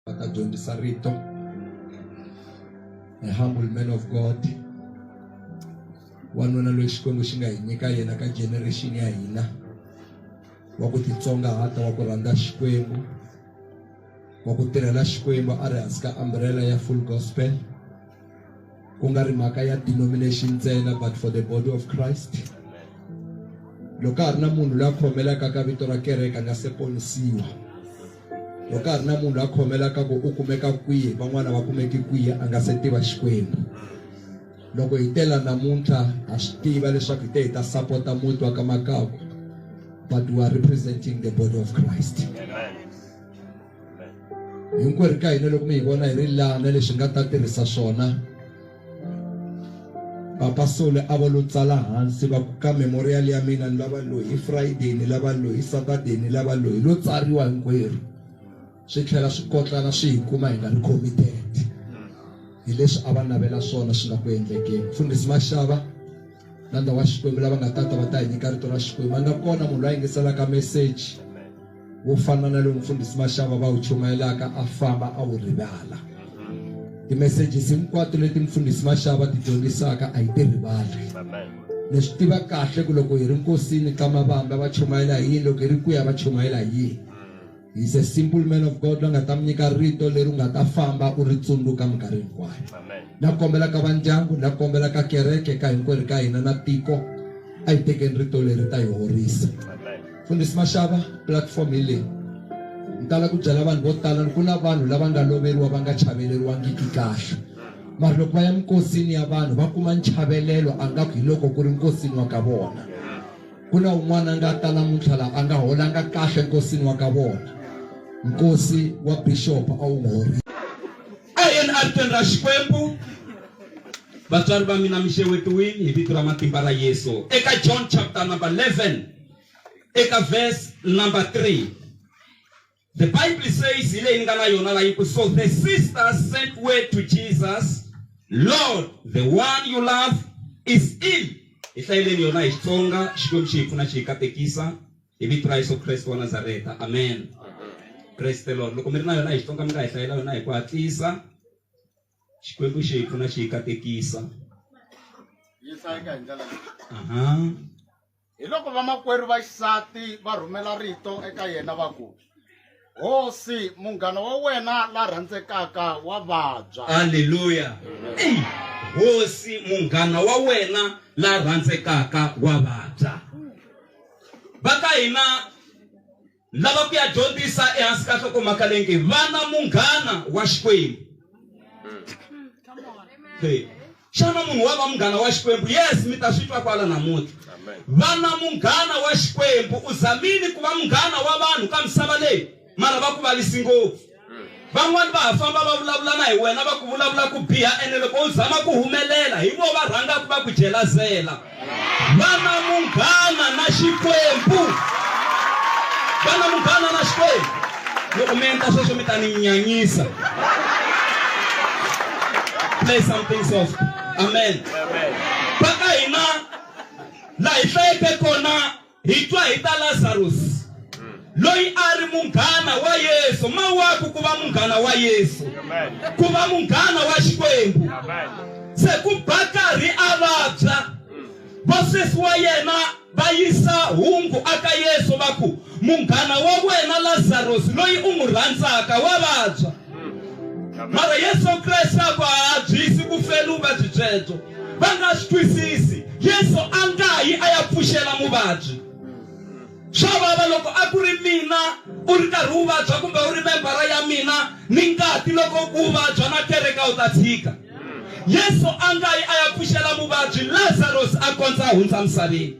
va ta dyondzisa rito a humble man of god wanuna loyi xikwembu xi nga hi nyika yena ka generation ya hina wa ku titsongahata wa ku rhandza xikwembu wa ku tirhela xikwembu a ri hansi ka umbrella ya full gospel ku nga ri mhaka ya denomination ntsena but for the body of christ loko ka ha ri na munhu loyi a khomelaka ka vito ra kereke a nga se ponisiwa loko ka ha ri na munhu loyi a khomelaka ku u kumeka kwihi van'wana va kumeki kwihi a nga se tiva xikwembu loko hi tela namuntlha ha swi tiva leswaku hi te hi ta sapota muti wa ka makaku but we are representing the body of christ Amen. hinkwerhu ka hina loko mi hi vona hi ri lana leswi nga ta tirhisa swona papa sole a va lo tsala hansi va ku ka memorial ya mina ni lava lo hi friday ni lava lo hi saturday ni lava lo hi lo tsariwa hinkwerhu swi tlhela swi kotlana swi hi kuma hi nga ri committed hi leswi a va navela swona swi nga ku endlekeni mfundhisi maxava na ndhawu wa xikwembu lava nga tata va ta hi nyika rito ra xikwembu a nga kona munhu loyi a yingiselaka meseji wo fana na lowu mfundhisi maxava va wu chumayelaka a famba a wu rivala timessages hinkwato leti mfundhisi maxava ti dyondzisaka a yi ti rivali ni swi tiva kahle ku loko hi ri nkosini ka mavamba va chumayela hi yini loko hi ri kuya va chumayela hi yini he's a simple man of god la nga ta mi nyika rito leri u nga ta famba u ri tsundzuka minkarhi hinkwayo na kombela ka vandyangu na kombela ka kereke ka hinkwerhu ka hina na tiko a hi tekeni rito leri ta hi horisa Mfundhisi Mashava platform hi leyi ni tala ku byela vanhu vo tala ni ku na vanhu lava nga loveriwa va nga chaveleriwangiki kahle mara loko va ya minkosini ya vanhu va kuma nchavelelo a nga ku hi loko ku ri nkosini wa ka vona ku na un'wana a nga ta namuntlha laha a nga holanga kahle nkosini wa ka vona nkosi wa bishop a wu n'wi horile eNRTweni ra Xikwembu vatswari va mina mi xewetiwile hi vito ra matimba ra Yesu eka John chapter number 11 eka verse number 3 the bible says hi leyi ni nga na yona la yi ku so the sisters sent word to jesus lord the one you love is ill hi hlayeleni yona hi xitsonga xikwembu xi hi pfuna xi hi katekisa hi vito ra yesu kreste wa nazareta amen kreste lord loko mi ri na yona hi xitsonga mi nga hi hlayela yona hi ku hatlisa xikwembu xi hi pfuna xi hi katekisa yi hlayeka hi ndlela leyi aha Hi loko vamakwerhu va xisati va rhumela rito eka yena va ku, Hosi, munghana wa wena la rhandzekaka wa vabya. Haleluya! Eyi, hosi, munghana wa wena la rhandzekaka wa vabya. Va ka hina. Lava ku ya dyondzisa ehansi ka nhlokomhaka leyi nge vana munghana wa Xikwembu. Hey. Xana munhu wa va munghana wa Xikwembu? Yes, mi ta swi twa kwala namuntlha. Vana munghana wa Xikwembu. U zamile ku va munghana wa vanhu ka misava leyi, mara va ku varisi ngopfu. van'wani va ha famba va vulavula na hi wena va ku vulavula ku biha ene loko u zama ku humelela hi vo va rhangaku va ku jelazela va na munghana na xikwembu va na munghana na xikwembu loko mi endla sweswo mi ta ni nyanyisa play something soft amen va ka hina laha hi hlayeke kona Hi twa hi ta Lazarusi, loyi a a ri munghana wa Yesu. Mawaku ku va munghana wa Yesu, ku va munghana wa Xikwembu! Se ku ba karhi a vabya, vasesi wa yena va yisa hungu aka Yesu va ku, Munghana wa wena Lazarusi, loyi u n'wi rhandzaka, wa vabya. mara yesu kreste a va habyisi ku feli vuvabyi byebyo va nga swi twisisi yesu a nga yi a ya pfuxela muvabyi swa vava loko a ku ri mina u ri karhi wu vabya kumbe u ri membara ya mina ni ngati loko u vabya na kereka u ta tshika yesu a nga yi a ya pfuxela muvabyi lazarus a kondza a hundza misaveni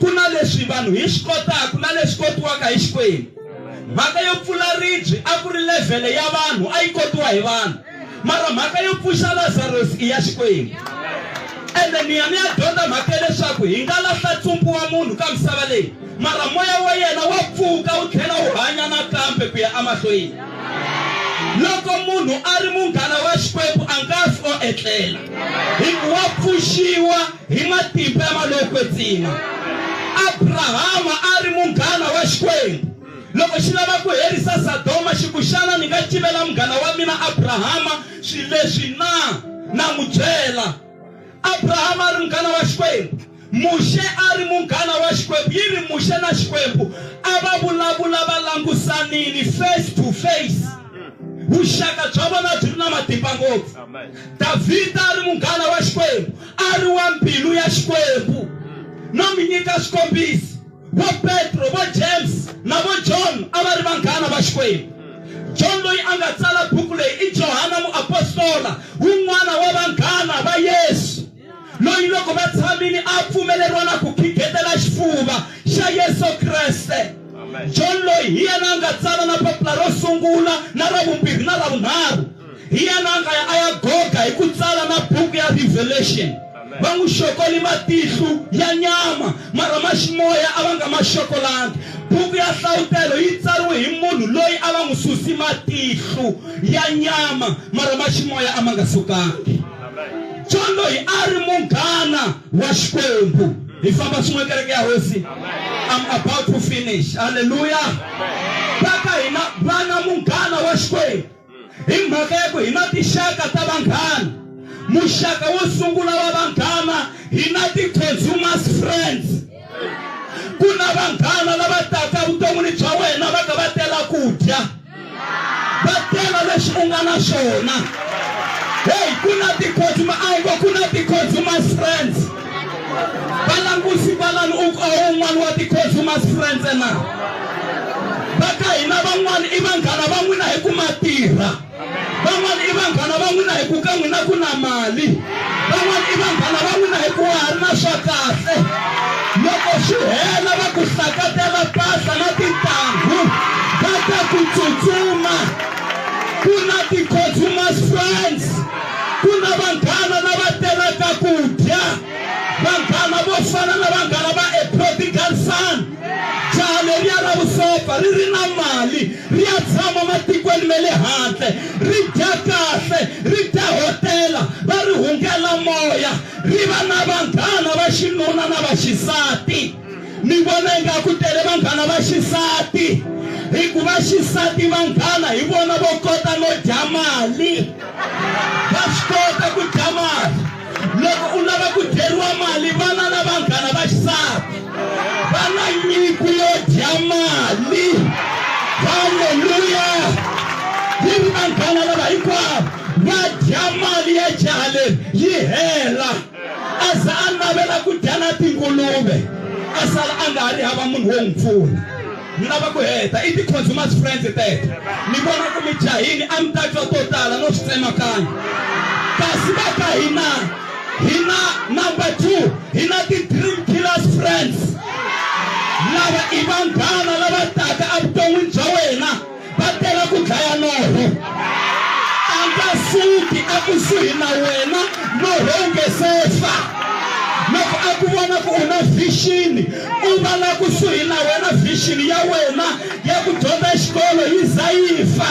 Ku na leswi vanhu hi swi kotaka na leswi kotiwaka hi Xikwembu. Mhaka yo pfula ribye a ku ri levhele ya vanhu, a yi kotiwa hi vanhu. Mara mhaka yo pfuxa Lazarosi i ya Xikwembu. Ende ni ya ni ya dyondza mhaka ya leswaku hi nga lahla ntsumpu wa munhu ka misava leyi, mara moya wa yena wa pfuka wu tlhela wu hanya nakambe ku ya emahlweni. Loko munhu a ri munghana wa Xikwembu a nga fi o etlela, hi ku wa pfuxiwa. Hi matimba ya malokwetsima, Abrahama a ri munghana wa Xikwembu. Loko xi lava ku herisa Sadoma, xi ku, Xana ni nga civela munghana wa mina Abrahama swilo leswi na? Na n'wi byela. Abrahama a ri munghana wa Xikwembu. Muxe a ri munghana wa Xikwembu. Yi ri Muxe na Xikwembu a va vulavula va langusanile, face to face. Vuxaka bya vona byi ri na matimba ngopfu. Davhida a ri munghana wa Xikwembu. A ri wa mbilu ya Xikwembu no mi nyika swikombiso. Vo Petro, vo James na vo John a va ri vanghana va Xikwembu. John loyi a nga tsala buku leyi i Johana muapostola, wun'wana wa vanghana va Yesu, loyi loko va tshamile a pfumeleriwa na ku khikhetela xifuva xa Yesu Kreste. John loyi hi yena a nga tsala na papila ro sungula na ra vumbirhi na ra vunharhu. Hi yena a ya a ya Goga hi ku tsala na buku ya Revelation. Va n'wi xoko ni matihlu ya nyama, mara ma ximoya a va nga ma xokolangi. Buku ya Nhlawutelo yi tsariwe hi munhu loyi a va n'wi suse matihlu ya nyama, mara ma ximoya a ma nga sukangi. John loyi a a ri munghana wa Xikwembu. Hi famba swin'we, kereke ya Hosi. I'm about to finish. Haleluya! Vaka hina vana munghana wa Xikwembu. hi mhaka ya ku hi na tinxaka ta vanghana muxaka wo sungula wa vanghana hi na ti-consumers friends ku na vanghana lava taka vuton'wini bya wena va ka va tela ku dya va tela leswi u nga na swona heyi ku na ti-consumer a yi ngo ku na ti-consumers friends valangusi valani u un'wana wa ti-consumers friends na va ka hina van'wana i vanghana va n'wina hi ku ma tirha van'wana i vanghana va n'wina hi ku ka n'wina ku na mali van'wana i vanghana va n'wina hi ku wa ha ri na swa kahle loko swi hela va ku sakatela mpahla na tintangu va ta ku tsutsuma ku na ti-consumers friends ku na vanghana lava telaka ku dya vanghana vo fana na vanghana va a prodigal son jaha leriya ra vusopfa ri ri na mali ri ya tshama matikweni me le handle ri dya kahle ri dya hotela va ri hungela moya ri va na vanghana va xinuna na va xisati ni vona ingaku tele vanghana va xisati hikuva xisati vanghana hi vona vo kota no dya mali va swi kota ku dya mali loko u lava ku dyeriwa mali vana na vanghana va xisati va na nyiko yo dya mali halleluya yi ri vanghana lava hinkwavo va dya mali ya jaha leri yi hela a za a navela ku dya na tinguluve a sala a nga ha ri hava munhu wo n'wi pfuna ni lava ku heta i ti-consumers friends teto ni vona ku mi jahini a mi ta twa to tala no swi tsemakanya kasi va ka hina hina number two hina ti-dream killers friends lava i vanghana lava taka evuton'wini bya wena va tela ku dlaya norho a nga suki ekusuhi na wena norho wu nge se fa loko a ku vona ku u na vhixini u va la kusuhi na wena vhixini ya wena ya ku dyondza xikolo yi za yi fa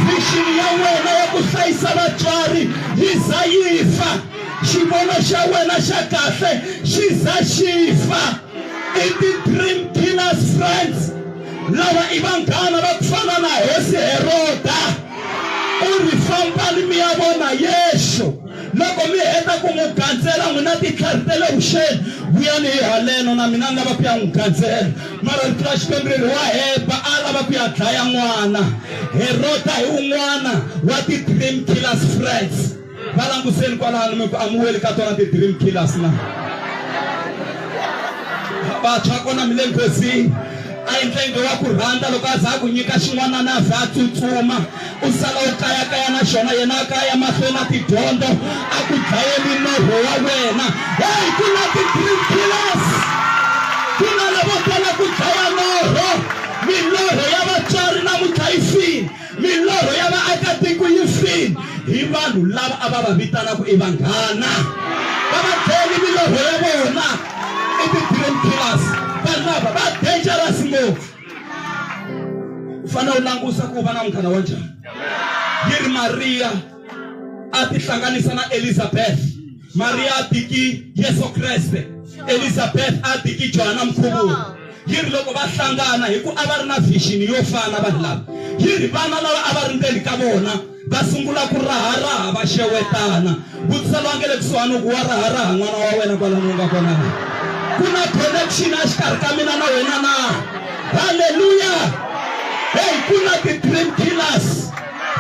vhixini ya wena ya ku hlayisa vatswari yi za yi fa xivono xa wena xa kahle xi za xi fa i ti-dream killers friends lava i vanghana va ku fana na hosi heroda u ri fambani mi ya vona yexo loko mi heta ku n'wi gandzela n'wina titlhari ta le vuxeni vuyani hi haleno na mina ni lava ku ya n'wi gandzela mara rito ra xikwembu ri ri wa heba a lava ku ya dlaya n'wana heroda hi un'wana wa ti-dream killers friends va languseni kwalano mi ku amuweli ka tona ti-dream killers na vantshwa kona mi le nghozini a yi ndlenge wa ku rhandza loko a za a ku nyika xin'wanana a za a tsutsuma u sala u kayakaya na xona yena a kaya mahlweni na tidyondzo a ku dlayeli norho wa wena hey ku na ti-dream killers ku na lavo tala ku dlaya norho milorho ya vatswari na mutlhayisini Milorho ya vaakatiko yi file hi vanhu lava a va va vitanaka i vanghana va va byele milorho ya vona i ti-dream killers. Vanhu lava va dangerous ngopfu. U fanele u langusa ku u va na munghana wa njhani. Yi ri Mariya a tihlanganisa na Elizabeth. maria atiki yesu kreste elizabeth atiki johana mkhuvuri yi ri loko va hlangana hi ku a va ri na vixini yo fana vanhu lava yi ri vana lava a va ri ndzeni ka vona va sungula ku raharaha va xewetana vutisa lowa nge le kusuhani ku wa raharaha n'wana wa wena kwalani u nga kona na ku na connection a xikarhi ka mina na wena na halleluya heyi ku na ti-dream killers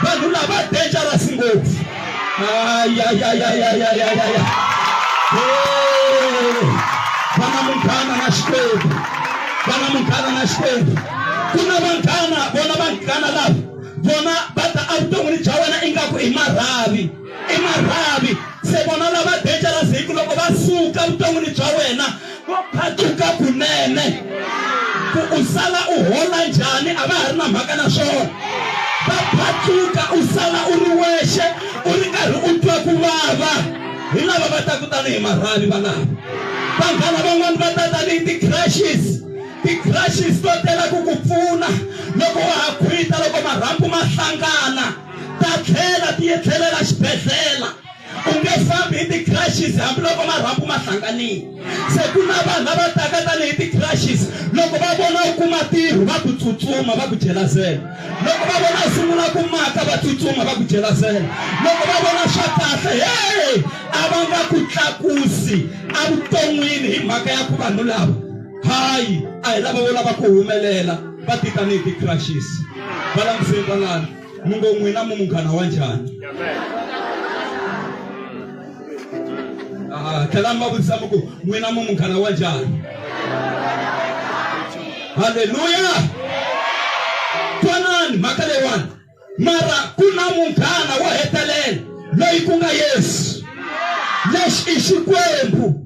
vanhu lava dangerous ngopfu ayayayayayayaya vana munghana na xikwembu vana munghana na xikwembu ku na vanghana vona vanghana lava vona va ta evuton'wini bya wena ingaku i marhavi i marhavi se vona lava beja la ziki loko va suka vuton'wini bya wena vo phatuka kunene ku u sala u hola njhani a va ha ri na mhaka na swona va phatuka u sala u ri wexe u ri karhi u twa ku vava hi lava va ta kutani hi marhavi valava vanghana van'wani va ta tanihi ti-crashes ti-crashes to tela ku ku pfuna loko wa ha khwita loko marhambu ma hlangana ta tlhela ti etlelela xibedhlele u nge fambi hi ti-crashes hambiloko marhambu ma hlanganile se ku na vanhu lava taka tanihi ti-crashes loko va vona u kuma tirho va ku tsutsuma va ku jelazela loko va vona u sungula ku maka va tsutsuma va ku jelazela loko va vona swa kahle he a va nga ku tlakusi evuton'wini hi mhaka ya ku vanhu lava hayi a hi lava vo lava ku humelela va titanihi ti-crashes va languseni van'wana mi ngo n'wina mu munghana wa njhani ah, tlhelani va vutisa mi ku n'wina mu munghana wa njhani halleluya twanani mhaka leyiwani mara ku na munghana wo hetelela loyi ku nga yesu lexi i xikwembu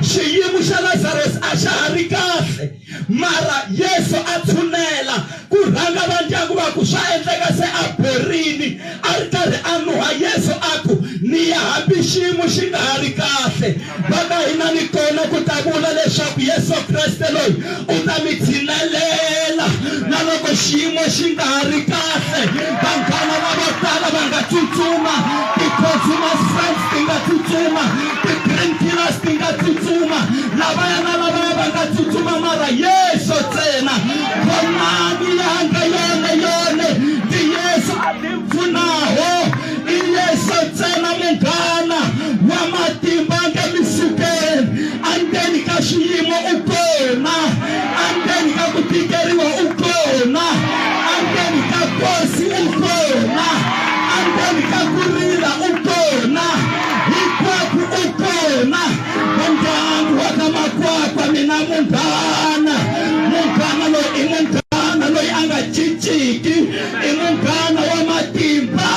xiyimo xa lazarus a xa ha ri kahle mara yesu a tshunela ku rhanga va ndyangu va ku swa endleka se a borini a ri karhi a nuha yesu a ku ni ya hambi xiyimo xi nga ha ri kahle Va ta hina ni kona ku ta vula leswaku Yesu Kreste loyi u ta mi tshinelela na loko xiyimo xi nga ha ri kahle. Vanghana lavo tala va nga tsutsuma, ti-consumers friends ti nga tsutsuma, ti-dream killers ti nga tsutsuma, lavaya na lavaya va nga tsutsuma, mara Yesu ntsena. Vonani yanga yona yone, ndi Yesu. pfunaho i Yesu ntsena munghana wa matimba nge mi sukeni andzeni ka swiyimo u kona andzeni ka ku tikeriwa u kona andzeni ka kosi u kona andzeni ka ku rila u kona hinkwako u kona vandyangu wa ka makwakwa mina munghana munghana loyi i munghana loyi a nga cinciki i munghana wa matimba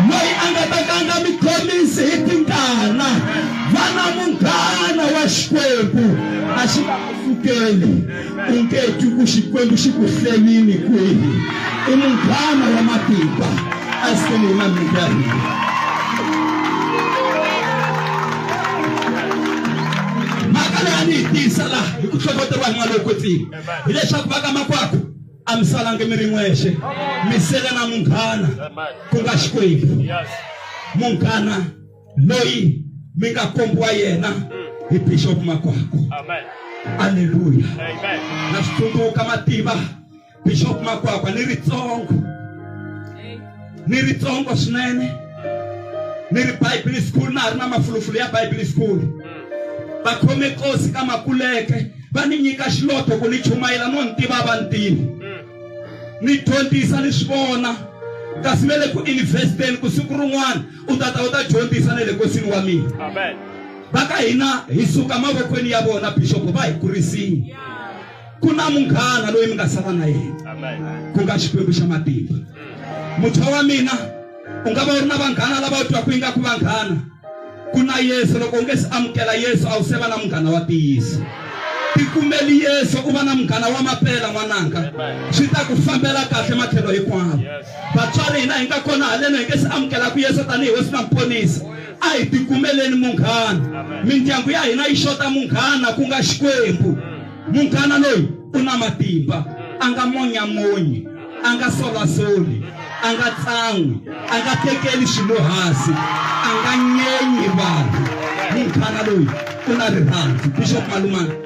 loyi a nga ta ka a nga mi khomisi hi tingana va na munghana wa xikwembu a xi nga ku pfukeli u nge twi ku xikwembu xi ku hlelini kwihi i munghana wa matimba a seni hi na minkarhi mhaka leyi a ni yi tisa laha hi ku hlohloteriwa hi n'wana loyi kwetsini hileswaku va ka makwakho a mi salangi mi ri n'wexe mi sele na munghana ku nga xikwembu munghana loyi mi nga kombiwa yena hi bixop makwako aleluya na swi tsundzuka mativa bixop makwakwa ni ritsongo ni ritsongo swinene ni ri bible school na ha ri na mafulufulu ya bible school va khome kosi ka makuleke va ni nyika xiloto ku ni chumayela no ni tiva vantivi ni dyondzisa ni swi vona kasi ve le ku investeni ku siku rin'wana u ta ta u ta dyondzisa na le kosini wa mina va ka hina hi suka mavokweni ya vona bishopo va hi kurisini ku na munghana loyi mi nga sala na yena ku nga xikwembu xa matimba mutshwa wa mina u nga va u ri na vanghana lava u twaku yi nga ku vanghana ku na yesu loko u nge se amukela yesu a wu se va na munghana wa tiyiso tikumeli yesu u va na munghana wa mapela n'wananga swi ta ku fambela kahle matlhelo hinkwawo vatswari hina hi nga kona haleno hi nge se amukelaku yesu tanihi hosi na muponisi a hi tikumeleni munghana mindyangu ya hina yi xota munghana ku nga xikwembu munghana loyi u na matimba a nga monyamonyi a nga solasoli a nga tsan'wi a nga tekeli swilo hansi a nga nyenyi vanhu munghana loyi u na rirhandzu bishop malumana